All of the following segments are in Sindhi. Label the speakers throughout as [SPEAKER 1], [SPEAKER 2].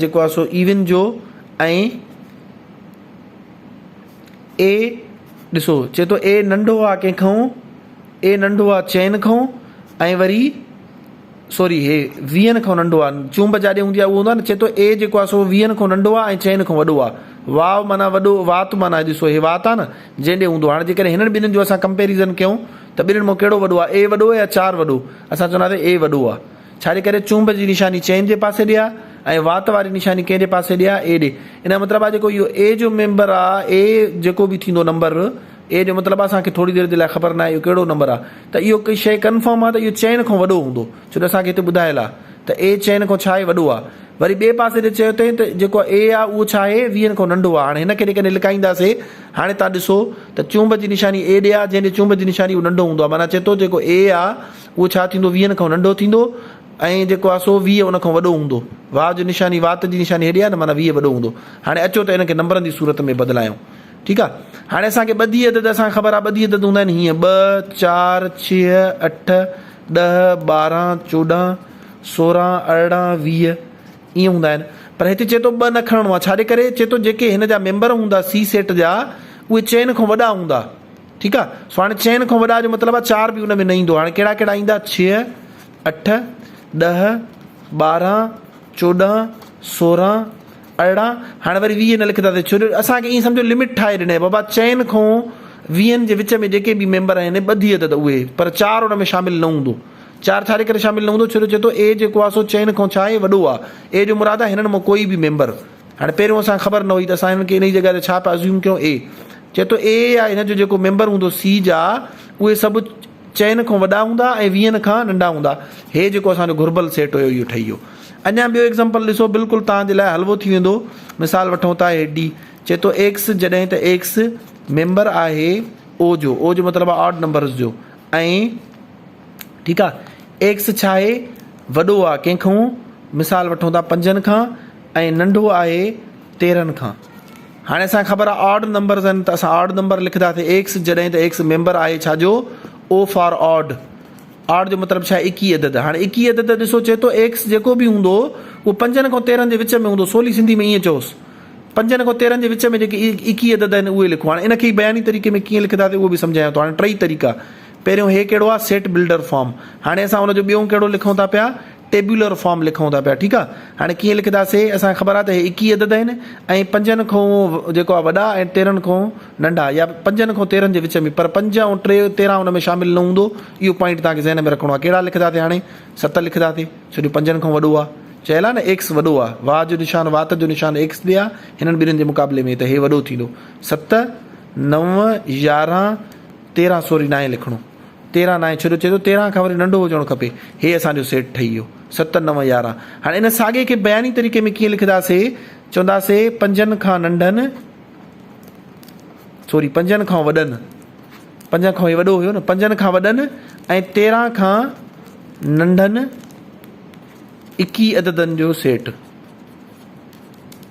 [SPEAKER 1] جيڪو آهي سو ايون جو ۽ اي ڏسو چي ٿو اي ننڍو آ ڪنهن کائون اي ننڍو آ چئن کائون ۽ وري سوري هي ويهن کائون ننڍو آ چونب جاڏي هوندي آ اهو هوندو آ چي ٿو اي جيڪو آهي سو ويهن کائون ننڍو آ ۽ چئن کائون وڏو آ واء معنيٰ وڏو وات معنيٰ ڏسو هي وات آ نه جنهن ڏي هوندو آ هاڻي جي ڪڏهن هنن ٻنهن جو اسان ڪمپيريزن ڪيون ته ٻنهن مان ڪهڙو وڏو آ اي وڏو آ يا چار وڏو اسان چونداسين اي وڏو آ ڇاجي ڪري چونب جي نشاني چين جي پاسي ڏي آ ۽ وات واري نشاني ڪنهن جي پاسي ڏي آ؟ اي ڏي. ان جو مطلب آ جيڪو اهو اي جو ميمبر آ، اي جيڪو به ٿيندو نمبر، اي جو مطلب آ اسان کي ٿوري دير جي لاء خبر ناهي اهو ڪهڙو نمبر آ ته اهو ڪي شيء ڪنفرم آ ته اهو چين کان وڏو هوندو ڇو جو اسان کي هتي ٻڌايل آ ته اي چين کان ڇا آهي وڏو آ. وري ٻئي پاسي ڏي چيو اٿئين ته جيڪو اي آ اهو ڇا آهي ويهن کان ننڍو آ. هاڻي هن کي جيڪڏهن لڪائينداسي هاڻي توهان ڏسو ته چونب جي نشاني اي ڏي آ جنهن ڏي چونب جي نشاني اهو ننڍو هوندو آ معنيٰ چئي ٿو جيڪو اي آ، اهو ڇا ٿيندو؟ ويهن کان ننڍو ٿيندو ۽ جيڪو آهي سو ويهه ان کان وڏو هوندو. واء جو نشاني وات جي نشاني هيڏي آهي نه معنيٰ ويهه وڏو هوندو. هاڻي اچو ته ان کي نمبرن جي صورت ۾ بدلايون. ٺيڪ آهي. هاڻي اسان کي ٻڌي عدد اسان کي خبر آهي ٻڌي عدد هوندا آهن هيئن ٻه، چار، ڇهه، اٺ، ڏهه، ٻارهن، چوڏهن، سورهن، ارڙهن، ويهه ائين هوندا آهن. پر هتي چئي ٿو ٻه نه کڻڻو آهي. ڇا جي ڪري؟ چئي ٿو جيڪي هن جا ميمبر هوندا سي سيٽ جا اهي چئن کان وڏا هوندا. ٺيڪ آ سو هاڻي چئن کان وڏا جو مطلب آ چار به ان ۾ نه ايندو هاڻي ڪهڙا ڪهڙا ايندا ڇهه اٺ ڏهه ٻارهن چوڏهن سورهن ارڙهن هاڻي وري ويهه نه لکنداسين ڇو جو اسان کي ائين سمجهو لمٽ ٺاهي ڏني بابا چئن کان ويهن جي وچ ۾ جيڪي به ميمبر آهن ٻڌي عدد اهي پر چار ان ۾ شامل نه هوندو چار ڇاجي ڪري شامل نه هوندو ڇو جو چئي ٿو اي جيڪو آ سو چئن کان ڇا آهي وڏو آ اي جو مراد آ هنن مان ڪوئي به ميمبر هاڻي پهريون اسان کي خبر نه هئي ته اسان هنن کي انهي جڳهه تي ڇا پيا Assume ڪيون A چئي ٿو A يا هن جو جيڪو ميمبر هوندو C جا اهي سڀ چئن کان وڏا هوندا ۽ ويهن کان ننڍا هوندا هي جيڪو اسان جو گهربل سيٽ هيو اهو ٺهي ويو اڃا ٻيو Example ڏسو بلڪل توهان جي لاء حلوو ٿي ويندو مثال وٺون ٿا هي D چئي ٿو X جڏهن ته X ميمبر آهي O جو O جو مطلب آهي Odd Numbers جو ۽ ٺيڪ آهي X ڇا آهي وڏو آهي ڪنهن کان مثال وٺون ٿا پنجن کان ۽ ننڍو آهي تيرهن کان. هاڻي اسان کي خبر آهي آڊ نمبرز آهن ته اسان آڊ نمبر لکنداسين ايڪس جڏهن ته ايڪس ميمبر آهي ڇا جو؟ او فار آڊ. آڊ جو مطلب ڇا ايڪيهه عدد. هاڻي ايڪيهه عدد ڏسو چئي ٿو ايڪس جيڪو به هوندو اهو پنجن کان تيرهن جي وچ ۾ هوندو سولي سنڌي ۾ ائين چئوس پنجن کان تيرهن جي وچ ۾ جيڪي ايڪيهه عدد آهن اهي لکو. هاڻي ان کي ئي بياني طريقي ۾ ڪيئن لکنداسين اهو به سمجهايان ٿو. هاڻي ٽئي طريقا پهريون هي ڪهڙو آهي سيٽ بلڊر فارم هاڻي اسان ان جو ٻيون ڪهڙو لکون ٿا پيا ٽيبيولر فارم لکون ٿا پيا ٺيڪ آ هاڻي ڪيئن لکدا سي اسان کي خبر آ ته هي ايڪيهه عدد آهن ۽ پنجن کون جيڪو آ وڏا ۽ تيرهن کون ننڍا يا پنجن کون تيرهن جي وچ ۾ پر پنج ۽ ٽي تيرهن ان ۾ شامل نه هوندو اهو پوائنٽ توهان کي ذهن ۾ رکڻو آ ڪهڙا لکدا سي هاڻي ست لکدا سي ڇو جو پنجن کون وڏو آ چيل آ نه ايڪس وڏو آ واء جو نشان وات جو نشان ايڪس تي آ هنن ٻنهين جي مقابلي ۾ ته هي وڏو ٿيندو ست نو يارهن تيرهن سوري ناهي لکڻو. تيرهن ناهي ڇو جو چئي ٿو تيرهن کان وري ننڍو هجڻو کپي. هي اسان جو سيٽ ٺهي ويو. ست نو يارهن. هاڻي ان ساڳئي کي بياني طريقي ۾ ڪيئن لکنداسين؟ چونداسين پنجن کان ننڍن سوري پنجن کان وڏن پنجن کان هي وڏو هيو نه پنجن کان وڏن ۽ تيرهن کان ننڍن اڪي عددن جو سيٽ.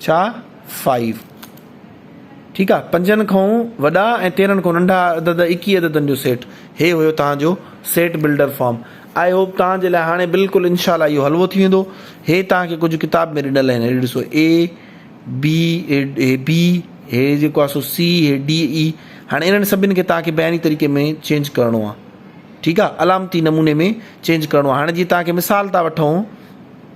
[SPEAKER 1] ڇا فائيو ٺيڪ آ پنجن کئون وڏا ۽ تيرھن کئون ننڍا عدد ايڪيھه عددن جو سيٽ ھي ھيو تھان جو set builder form I hope تھان جي لاء ھاڻي بلڪل انشاء الله اھو حلوو ٿي ويندو ھي تھان کي ڪجھ ڪتاب ۾ ڏنل آھن ھي ڏسو اي بي ھي بي ھي جيڪو آ سو سي ھي ڊي اي ھاڻي انھن سڀن کي تھان کي بياني طريقي ۾ چينج ڪرڻو آ ٺيڪ آ علامتي نموني ۾ چينج ڪرڻو آ ھاڻي جي تھان کي مثال ٿا وٺون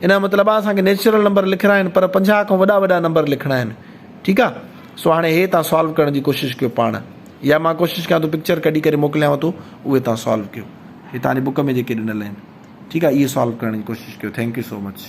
[SPEAKER 1] ان جو مطلب آ اسان کي نيچرل نمبر لکڻا آهن پر پنجاهه کان وڏا وڏا نمبر لکڻا آهن ٺيڪ آ سو هاڻي هي تان سالو ڪرڻ جي ڪوشش ڪيو پاڻ يا مان ڪوشش ڪيان ٿو پڪچر ڪڍي ڪري موڪليانو ٿو اهي تان سالو ڪيو هي تان جي بوڪ ۾ جيڪي ڏنل آهن ٺيڪ آ اهي سالو ڪرڻ جي ڪوشش ڪيو ٿينڪ يو سو مچ.